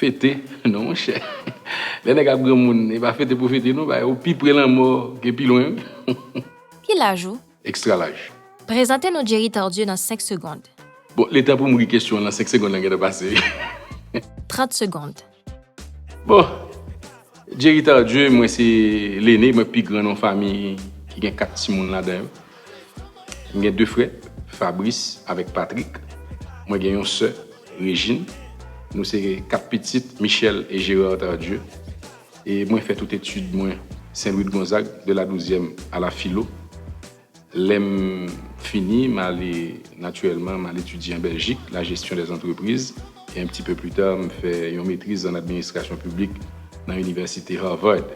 Fete non monchè lè nèg ap granmoun e pa fete pou fete non bagay ou pi pre lanmò gen pi lwen wi. Ki laj ou? Extra laj. Prezante nou Jerry Tardieu nan 5 segond. Bon letan poum ri kesyon lan 5 segond lan gentan pase wi. 30 segond. Bon Jerry Tardieu mwen se lene mwen pi gran nan yon fami ki gen 4 timoun ladan yo M gen 2 frè, Fabrice avèk Patrick. Mwen gen yon sè, Regine. Nou se 4 pitit Michel et Gérard Tardieu. E mwen fè tout etid mwen Saint Louis de Gonzague, de la Douzièm a la Filo. Lè m fini, m ale, natirèlman, m al etidye an Bèljik, la gestion des entreprises. e un petit peu plus tard m fè yon metriz an administrasyon piblik nan inivèsite Harvard.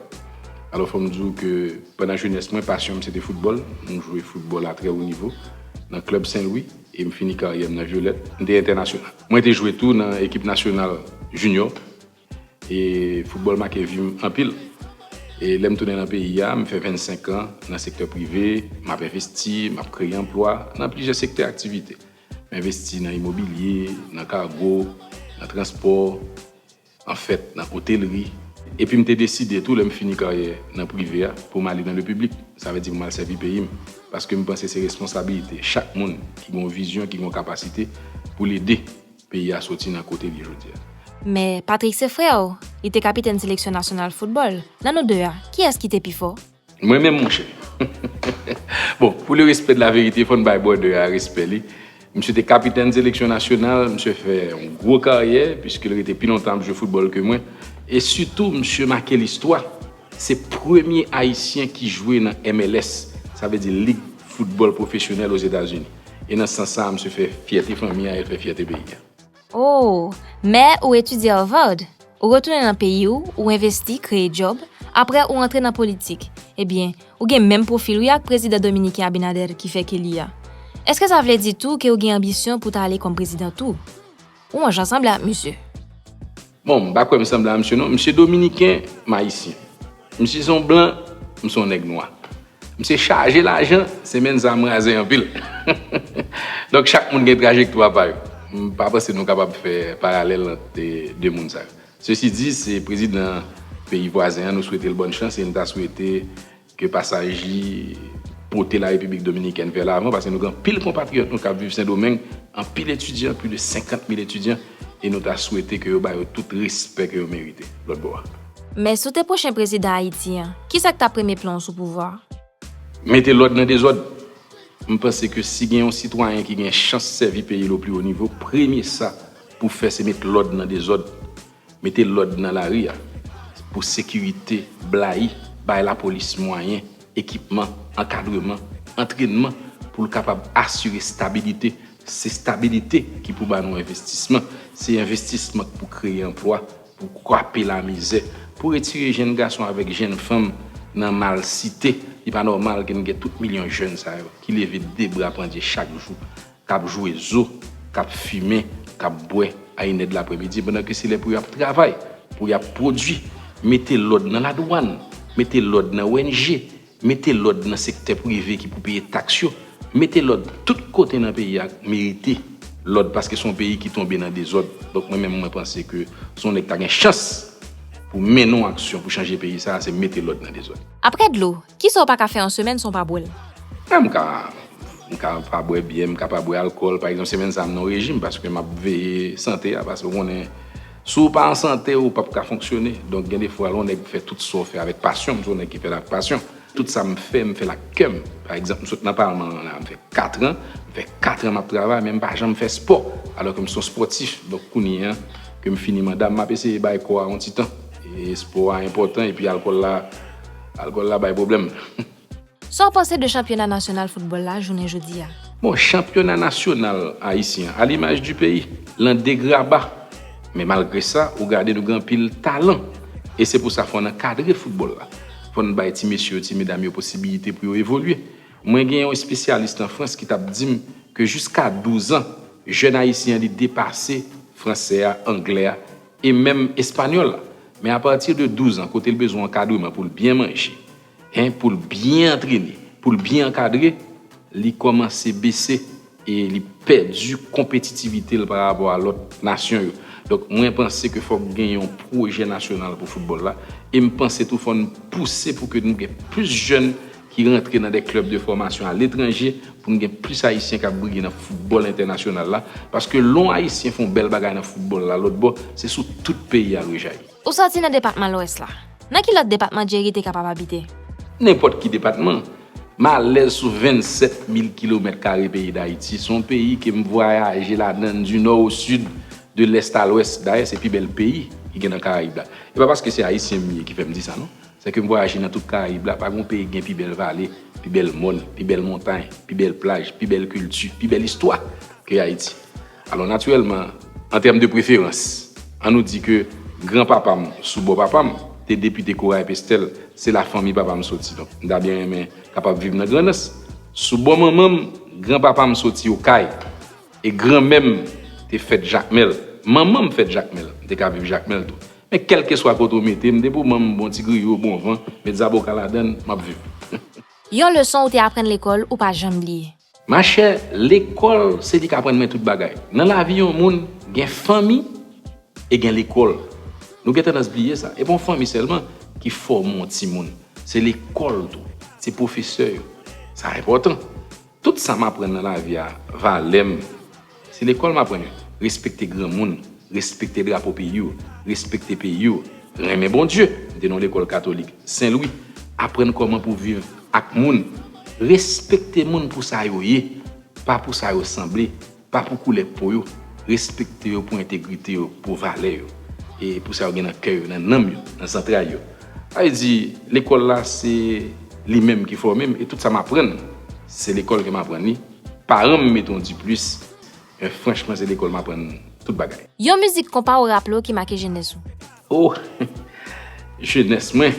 Alò fò m di w ke pandan jenès mwen pasyon m se te foutbòl, m jwe foutbòl a trè wo nivo nan klèb Sen Lwi e m fini karyè m nan Violette, m te entènasyonal. Mwen te jwe tou nan ekip nasyonal jinyò E foutbòl make vi m anpil. E lè m tounen nan peyi a, m fè 25 an nan sektè prive, m ap envesti, m ap kreye anplwa nan plizyè sektè aktivite. M envesti nan imobilye, nan kago, nan transpò, anfèt nan otelri. Epi m te deside tou lè m fini karyè nan prive a pou m ale nan le piblik, sa vle di pou m al sèvi peyi m. Paske m panse se responsabilite chak moun ki gen yon vizyon, ki gen yon kapasite pou l ede. Peyi a soti nan kote l ye jodi a. Men, Patrik se frè w. Li te kapitèn seleksyon nasyonal foutbòl. Nan nou de a, kiyès ki te pi fò? Mwen menm, monchè? Bon, pou le respè de la verite, fò n bay bròdè a respè li. Msye te kapitèn seleksyon nasyonal, msye fè yon gwo karyè, piske l rete pi lontan ap jwe foutbòl ke mwen. E sitou, msye make listwa. Se premye Ayisyen ki jwe nan MLS, sa vle di lig foutbòl pwofesyonèl Ozetazini. E nan sans sa a, msye fè fyète fanmi a, el fè fyète peyi a. Oh! Mè ou etidye Harvard, ou retounen nan peyi ou, ou envesti, kreye djòb, aprè ou antre nan politik. Ebyen, ou gen menm pwofil wi ak prezidan dominiken Abinader ki fèk eli a. Eske sa vle di tou ke ou gen anbisyon pou w ta ale kòm prezidan tou? Ou an jan sanble ak misye. Bon m pa kwè m sanble a misye non. M se dominiken, m ayisyen. M si son blan, m son nèg nwa. M se chaje lajan, se menn sa m raze anpil. Donk chak moun gen trajektwa pa yo. M pa panse nou kapab fè paralèl ant 2 moun sa yo. Sesi di, se prezidan peyi vwazen an nou swete l bòn chans e m ta swete Ke pasaj li pote la Repiblik Dominikèn vè lavan paske nou gen anpil konpatriyòt nou kap viv Sendomeng, anpil etidyan, pli de 50 mil etidyan e nou ta swete ke yo ba yo tout respè ke yo merite lòt bò a. Men si w te pwochen prezidan Ayiti an, kisa k ta premye plan w sou pouvwa a? Mete lòd nan dezòd. M panse ke si gen yon sitwayen ki gen chans sèvi peyi l o pli wo nivo, premye sa pou fè se met lòd nan dezòd. Mete lòd nan lari a pou sekirite blayi bay lapolis mwayen, ekipman, ankadreman, antrennman pou l kapab asire stabilite, se stabilite ki pou ba nou envestisman, se envestisman k pou kreye anplwa, pou kwape lamizè, pou retire jenn gason avèk jenn fanm nan malsite, li pa nòmal ke n gen tout milyon jenn sa yo ki leve de bra pandye chak jou k ap jwe zo, k ap fimen, k ap bwè a inè de lapremidi pandan ke se lè pou y ap travay, pou y ap pwodui, mete lòd nan ladwann, mete lòd nan ONG, mete lòd nan sektè prive ki pou peye taks yo, mete lòd tout kote nan peyi a merite lòd paske se yon peyi ki tonbe nan dezòd. Donk mwen menm mwen panse ke si yon nèg ta gen chans pou mennen yon aksyon pou chanje peyi sa a se mete lòd nan dezòd. Aprè dlo, kisa w pa ka fè an semèn san w pa bwè l? MK, M ka pa bwè byè, m ka pa bwè alkòl. Pa egzanp, semèn sa a m nan yon rejim paske m ap veye sante a. Paske ou konnen, si w pa an sante, ou pap ka fonksyone. Donk gen de fwa lè yon nèg fè tout sa w fè avèk pasyon, m se yon nèg ki fè l avèk pasyon. Tout sa m fè, m fè l ak kè m. Pa egzanp, m sot nan palman an la a, m fè katran. M fè katran m ap travay men m pa janm fè spò. Alò ke m se yon spòtif. Donk kounye a ke m fini manda m, m ap eseye bay kò a yon ti tan. E spò a enpòtan epi alkòl la, alkòl la bay pwoblèm. Sa w panse de chanpyona nasyonal foutbòl la jounen jodi a? Bon, chanpyona nasyonal ayisyen an, a limaj di peyi, lan degraba. Men malgre sa, ou gade nou gen anpil talan. E se pou sa fò n ankadre foutbòl la. Fò n bay ti mesye yo, ti medam yo posibilite pou yo evolye. Mwen gen yon espesyalis lan Frans ki t ap di m ke jiska douzan, jèn ayisyen an li depase fransè a, anglè a e menm espanyòl la. Men apati de douzan kote l bezwen ankadreman pou l byen manje, 1 pou l byen antrene, pou l byen ankadre, li kòmanse bese e li pèdi konpetitivite l pa rapò a lòt nasyon yo. Donk mwen panse ke fòk gen yon pwojè nasyonal pou foutbòl la e m panse tou fò n pouse pou ke nou gen plis jèn ki rantre nan de klèb de fòmasyon aletranje pou n gen plis ayisyen k ap briye nan foutbòl entènasyonal la paske lè yon ayisyen fè yon bèl bagay nan foutbòl la lòtbò se sou tout peyi a l rejayi. Ou soti nan depatman Lwès la. Nan ki lòt depatman Jerry te kapab abite? Nenpòt ki depatman. M alèz sou 27 mil kilomèt kare peyi Dayiti. Se yon peyi ke m vwayaje ladan l di nò o sid, de lès a lwès. Dayè se pi bèl peyi ki gen nan Karayib la. E pa paske se Ayisyen m ye ki fè m di sa non. Lè ke m vwayaje nan tout Karayib la, pa gen yon peyi ki gen pi bèl vale, pi bèl mòn, pi bèl montay, pi bèl plaj, pi bèl kilti, pi bèl istwa ke Ayiti. Alò natirèlman, an tèm de preferans, an nou di ke gran papa m sou bò papa m te depite Corail Pestel, se la fanmi papa m soti. Donk, m ta byen renmen kapab viv nan Grandans. Sou bò manman m, gran papa m soti Okay. E granmè m te fèt Jakmèl. Manman m fèt Jakmèl. M te ka viv Jakmèl tou. Men kèlkeswa kote ou mete m, depi ou ban m bon ti griyo, bon van, met zaboka ladan l, m ap viv. Yon leson ou te aprann lekòl ou pa janm bliye? Machè, lekòl se li k aprann mwen tout bagay. Nan lavi yon moun, gen fanmi e gen lekòl. Nou gen tandans bliye sa. E pa yon fanmi sèlman ki fòme yon timoun. Se lekòl tou. Se pwofesè yo. Sa enpòtan. Tout sa m aprann nan lavi a, valè m, se lekòl m aprann yo. Respekte granmoun, respekte drapo peyi w, respekte peyi w, renmen Bondye, m te nan yon lekòl katolik, Sen Lwi, aprann kòman pou viv ak moun, respekte moun pou sa yo ye, pa pou sa yo sanble. Pa pou koulè po yo, respekte yo pou entegrite yo, pou valè yo, e pou sa yo gen nan kè yo, nan nanm yo, nan zantray yo. Sa vle di, lekòl la se li menm ki fòme m e tout sa m aprann, se lekòl ke m aprann li. Paran m mete yon diplis, men franchman se lekòl m aprann tout bagay. Yon mizik konpa ou raple w ki make jenès ou? O! Jenès mwen!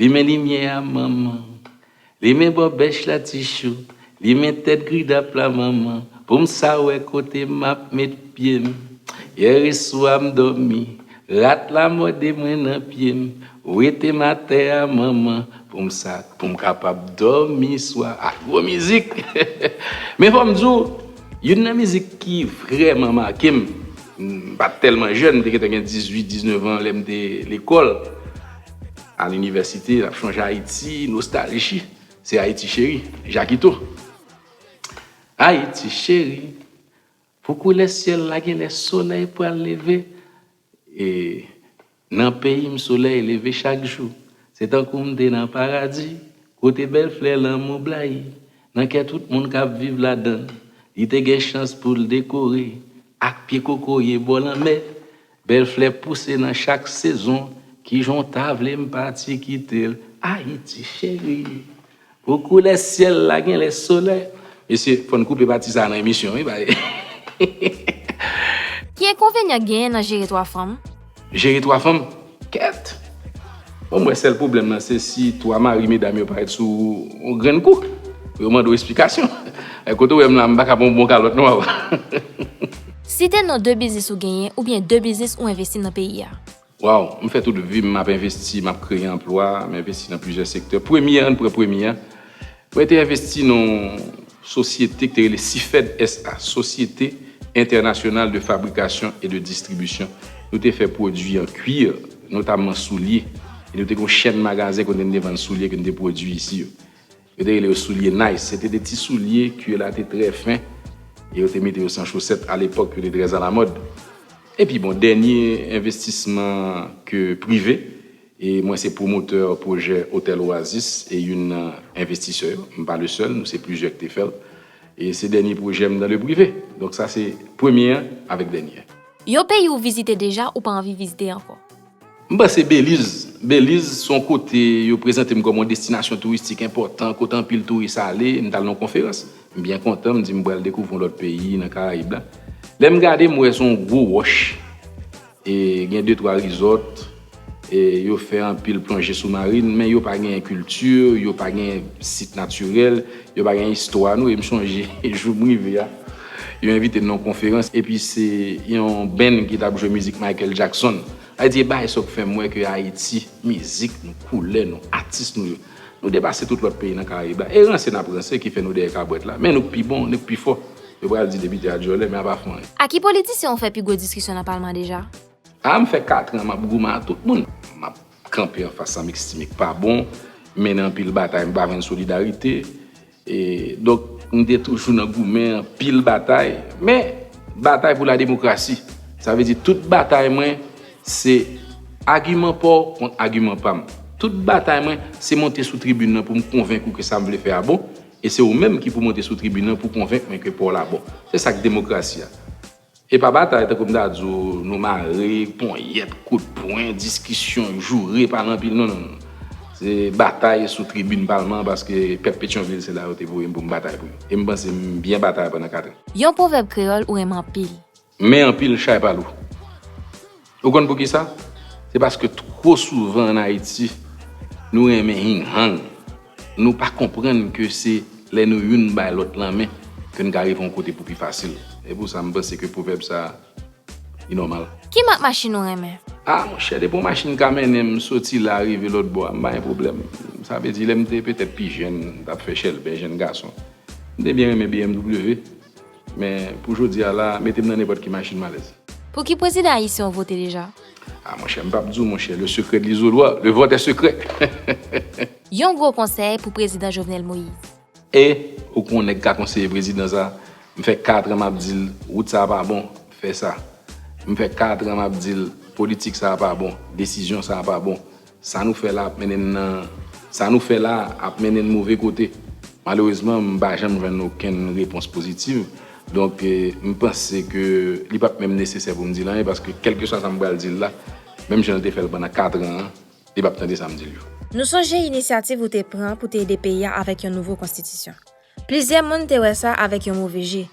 Limen limyè a manman. Limen bò bèch la ti chou. Limen tèt gridap la manman. Pou m sa wè kote m ap met pye m. Yèresou a m dòmi. Rat la mòde mwen nan pye m. Wete m atè a manman. Pou m sa pou m kapab dòmi swa a. Gwo mizik! Men fò m di w, youn nan mizik ki vrèman make m, m pa t tèlman jèn, m te gentan gen 18, 19 an lè m te lekòl. Al inivèsite, l ap chonje Ayiti, nostalji, se Ayiti cheri, Jakito. Ayiti cheri, pou koulè syèl la genlè solèy pral leve, e nan peyi m solèy leve chak jou, se tankou m te nan paradi, kote bèl flè lanmou blayi nan kè tout moun k ap viv ladan l, li te gen chans pou l dekore ak pye kokoye bò lanmè. Bèl flè pouse nan chak sezon Kijan w ta vle m pati kite l Ayiti cheri Pou koulè syèl la genlè solè Mesye fò n koupe pati sa nan emisyon wi bay. Ki enkonvenyan k genyen nan jere 3 fanm? Jere 3 fanm? Kèt! Bon m wè sèl pwoblèm lan se si 3 mari medam yo parèt sou ou yon grenn kou pou yo mande w esplikasyon. Kote w wè m la m pa ka pran yon bon kalòt non papa. Site non 2 biznis ou genyen oubyen 2 biznis ou envesti nan peyi a. Waww m fè tout vim map envesti map kreye anplwa m envesti nan plizyè sektè premye an pran premye an mwen te envesti nan yon sosyete ki te rele sifed SA société internationale de fabrication et de distribution nou te fè pwodwi an kwir notamman soulye e nou te gen yon chèn magazen kote nou te vann soulye ke nou te pwodwi isi yo. Yo te rele yo soulye Nice. Se te de ti soulye kue la te trè fen e yo te mete yo san chosèt alepòk yo te trè alamòd. Epi bon, dènye envestisman ke prive e mwen se pwomotè pwojè Otèl Oasis e youn nan envestisè yo. M pa le sèl, nou se plizyè ki te fè l. E se dènye pwojè m nan le prive. Donk sa se premye an avèk dènye. Yon peyi ou vizite deja ou pa anvi vizite ankò. M panse Beliz, Beliz se yon kote yo prezante m kòm yon destinasyon touristik enpòtan, kote anpil touris ale. M t al nan yon konferans, m byen kontan, m di m pral dekouvri yon lòt peyi nan Karayib la. Lè m gade, m wè se yon gwo wòch e gen de twa rizòt e yo fè anpil plonje soumarin, men yo pa genyen kilti, yo pa genyen sit natirèl. Yo pa gen istwa nou e m sonje jou m rive a, yo envite m nan yon konferans epi se yon band ki t ap jwe mizik Michael Jackson. Sa di e bagay sa yo k fè m wè ke Ayiti, mizik nou, koulè nou, atis nou yo, nou depase tout lòt peyi nan Karayib la. E ranse n ap ranse ki fè nou dèyè kabwèt la. Men nou k pi bon, nou k pi fò. Yo pral di depite a dyòlè men a pa fè anyen. A ki politisyen ou fè pi gwo diskisyon nan palman deja? A m fè katran m ap goumen a tout moun. M ap Kanpe anfas sa mixtimic pa bon, mennen anpil batay m pa jwenn solidarite. Donk m te toujou nan goumen anpil batay, men batay pou la demokrasi. Sa vle di tout batay mwen se agiman pa w kont agiman pa m. Tout batay mwen se monte sou tribin nan pou m konvenk ou ke sa m vle fè a bon, e se ou menm ki pou monte sou tribin nan pou konvenk mwen ke pa w la bon. Se sa k demokrasi a. E pa batay tankou m ta di w nou mare, ponyèt, kout pwen, diskisyon, joure, pale anpil non non non. Se batay sou tribin palman an paske pèp Petyonvil se la yo te voye m pou m batay pou yo. E m panse m byen batay pandan 4 an. Yon pwovèb kreyòl ou renmen anpil. Men anpil chay pa lou. Ou konn poukisa? Se paske two souvan an Ayiti, nou renmen hing hang. Nou pa konprann ke se lè nou youn bay lòt lanmen ke n ka rive yon kote pou pi fasil. E pou sa m panse ke pwovèb sa a li nòmal. Ki mak machin ou renmen? A monchè, depi yon machin ka mennen m soti la rive lòt bò a, m pa gen pwoblèm. Sa vle di lè m te petèt pi jenn, m t ap fè chèlbè jenn gason, m te byen renmen bmw. Men pou jodi a la, mete m nan nenpòt ki machin m alèz. Pou ki prezidan Ayisyen ou vote deja? Ah monchè, m pap di w monchè, le secret de l'isoloir, le vote est secret. Yon gwo konsèy pou prezidan Jovenel Moïse. E, ou kon nèg ka konseye prezidan sa? M fè 4 an m ap di l, wout sa a pa bon, fè sa. M fè 4 an m ap di l, politik sa a pa bon, desizyon sa a pa bon. Sa nou fè la ap mennen n nan Sa nou fè la a ap mennen n move kote. Malerezman, m pa janm jwenn okenn repons pozitiv. Donk, m panse ke li pap menm nesesè pou m di l anyen paske kèlkeswa sa m pral di l la, menm jan l te fè l pandan katran an, li pap tande sa m di l yo. Nou sonje inisyativ ou te pran pou te ede peyi a avèk yon nouvo konstitisyon. Plizyè moun te wè sa avèk yon move je.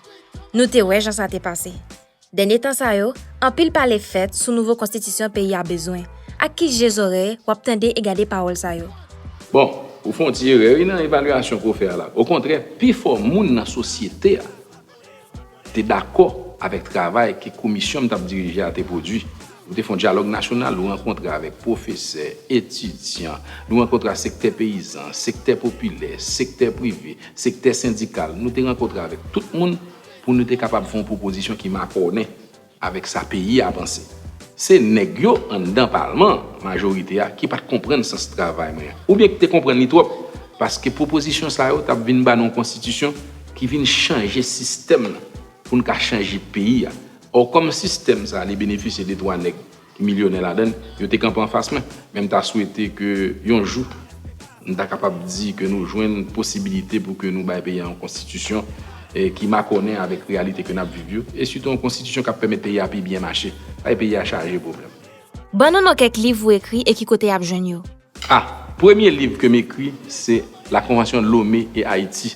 Nou te wè jan sa te pase. Dènye tan sa yo, anpil pale fèt sou nouvo konstitisyon peyi a bezwen. Ak ki je zòrèy w ap tande e gade pawòl sa yo? Bon, ou fè yon ti erè wi nan evalyasyon ke w fè a la. Okontrè, pifò moun nan sosyete a, te dakò avèk travay ke komisyon m t ap dirije a te pwodui. Nou te fè yon dyalòg nasyonal, nou rankontre avèk pwofesè, etidyan, nou rankontre ak sektè peyizan, sektè popilè, sektè prive, sektè sendikal, nou te rankontre avèk tout moun pou nou te kapab fè yon pwopozisyon ki makònen. Avèk sa peyi a panse. Se nèg yo anndan palman an, majorite a, ki pat konprann sans travay mwen an. Oubyen ki te konprann li twòp. Paske pwopozisyon sa yo tap vin ba nou yon konstitisyon ki vin chanje sistèm nan pou n ka chanje peyi a. Ò kòm sistèm sa li benefisye de twa nèg milyonè ladan l, yo te kanpe anfas mwen. Men m ta swete ke yon jou nou ta kapab di ke nou jwenn posibilite pou ke nou bay peyi a yon konstitisyon ki makònen avèk reyalite ke n ap viv yo, e sitou yon konstitisyon k ap pèmèt peyi a pi byen mache, bay peyi a chaje pwoblèm. Ban nou non kèk liv ou ekri e ki kote y ap jwenn yo. A. Premye liv ke m ekri se La Convention Lomé et Haïti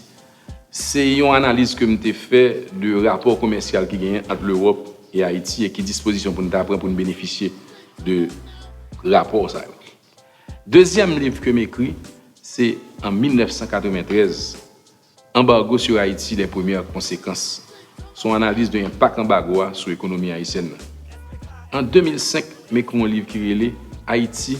Se yon analiz ke m te fè de rapò komèsyal ki genyen ant Lewòp e Ayiti e ki dispozisyon pou n ta pran pou n benefisye de rapò sa yo. Dezyèm liv ke m ekri se an 1993, Embargo sur Haïti, les premières conséquences. Se yon analiz de enpak anbago a sou ekonomi ayisyèn nan. An 2005, m ekri yon liv ki rele Haïti,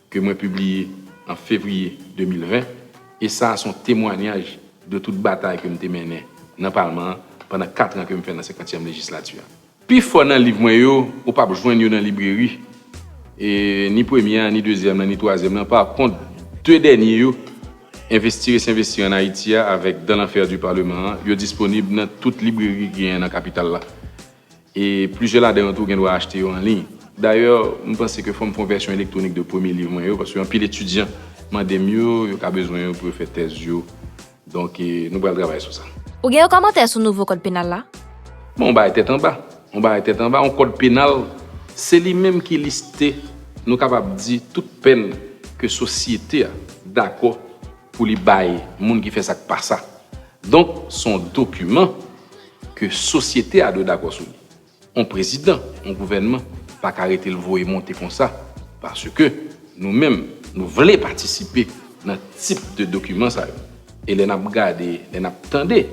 ke mwen pibliye an fevriye 2020, e sa a se yon temwanyaj de tout batay ke m te mennen nan palman an pandan kat an ke m fè nan senkantyèm lejislati a. Pi fò nan liv mwen yo, ou pap jwenn yo nan libreri, e ni premye a, ni dezyèm lan, ni twazyèm lan, pa kont, de dènye yo, Investir et s'investir en Haïti a avèk Dans l'enfer du Parlement an, yo disponib nan tout libreri ki genyen nan kapital la. E plizyè ladan yo tou gen dwa achte yo anliy. Dayè, m panse ke fò m fè yon vèsyon elektwonik de premye liv mwen yo, paske anpil etidyan mande m yo, yo ka bezwen yo pou yo fè tèz yo. Donk, nou pral travay sou sa. Ou gen yon kòmantè sou nouvo kòd penal la? Bon, yon bagay tèt anba. Yon bagay tèt anba, yon kòd penal, se li menm ki liste, nou kapab di, tout pèn ke sosyete a dakò pou li bay moun ki fè sa k pa sa. Donk, s on dokiman. ke sosyete a dwe dakò sou li. On prezidan, on gouvènman pa ka rete l voye monte konsa paske nou menm nou vle patisipe nan tip de dokiman sa yo. E lè n ap gade, lè n ap tande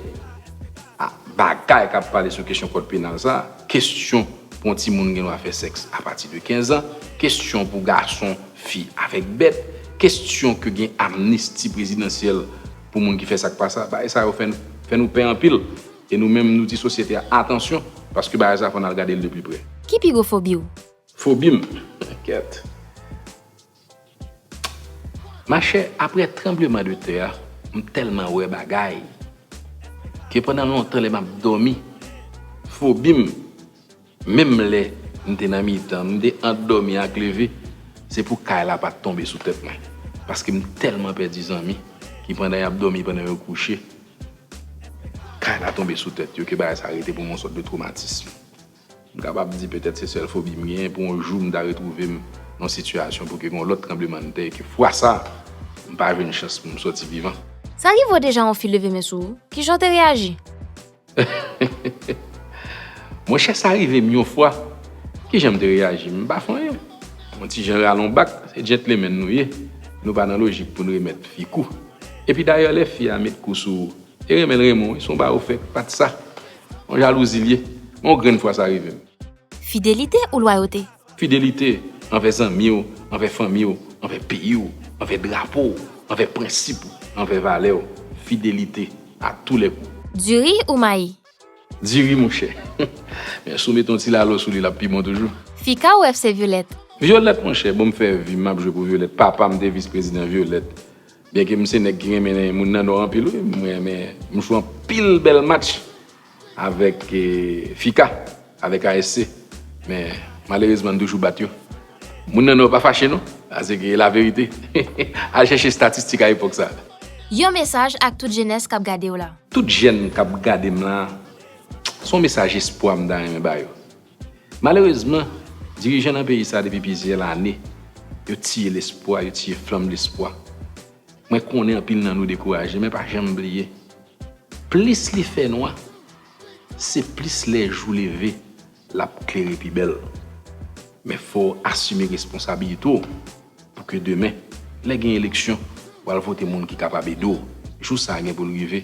a bagay k ap pale sou kesyon kòd penal sa, kesyon pou on timoun gen dwa fè sèks apati de 15 an, kesyon pou gason, fi avèk bèt, kesyon ke gen amnisti prezidansyèl pou moun ki fè sa k pa sa. Bagay sa yo fè fè nou pè anpil e nou menm nou di sosyete a atansyon paske bagay sa fò n al gade l de pli prè. Ki pi gwo fobi w? Fobi m? Kèt. Machè, aprè tranbleman de tè a, m tèlman wè bagay ke pandan lontan lè m ap dòmi, fobi m. Menm lè m te nan mitan, m te ant dòmi ak leve, se pou kay la pa t tonbe sou tèt mwen, paske m tèlman pèdi zanmi ki pandan y ap dòmi pandan yo kouche, kay la tonbe sou tèt yo ke bagay sa rete pou m yon sòt de twomatism. M kapab di petèt se sèl fobi m genyen pou yon jou m ta retwouve m nan sitiyasyon pou gen yon lòt tranblemanntè e ke fwa sa m pa jwenn chans pou m sòti vivan. Sa rive w deja yon fi leve men sou ou? Kijan w te reyaji? Monchè sa rive m yon fwa, ki jan m te reyaji? M pa fè anyen. Yon ti jan ralon bak, se djentlemen nou ye, nou pa nan lojik pou n remèt fi kou. Epi dayè lè fi a met kou sou ou, e renmen l renmen w wi, si w ba ou fè pat sa, yon jalouzi l ye. Men yon grenn fwa sa rive m. Fidelite ou lwayote? Fidelite anvè zanmi w, anvè fanmi w, anvè peyi w, anvè drapo w, anvè prensip w, anvè valè w. Fidelite a tou lè kou. Diri ou mayi? Diri monchè. Men si w mete yon ti lalo sou li l ap pi bon toujou. Fika ou FC Violette? Violette monchè, bon m fè vi m m ap jwe pou Violette. Papa m te vis prezidan Violette. Byenke m se nèg ki renmen moun nan Nò anpil wi, m renmen m jwe anpil bèl match. avèk FICA, avèk ASC, men malerezman n toujou bat yo. Moun nan Nò pa fache non, sa se laverite. Al chèche estatistik a epòk sa. Yon mesaj ak tout jenès k ap gade w la. Tout jèn k ap gade m la, s on mesaj espwa m ta renmen ba yo. Malerezman, dirijan nan peyi sa depi plizyè lane, yo tiye lespwa, yo tiye flanm lespwa. Mwen konnen anpil nan nou dekouraje, men pa janm bliye, plis li fè nwa, se plis lè jou leve, l ap klere pi bèl. Men fò w asime responsabilite w pou ke demen, lè gen eleksyon, w al vote moun ki kapab ede w, jou sa gen pou l rive.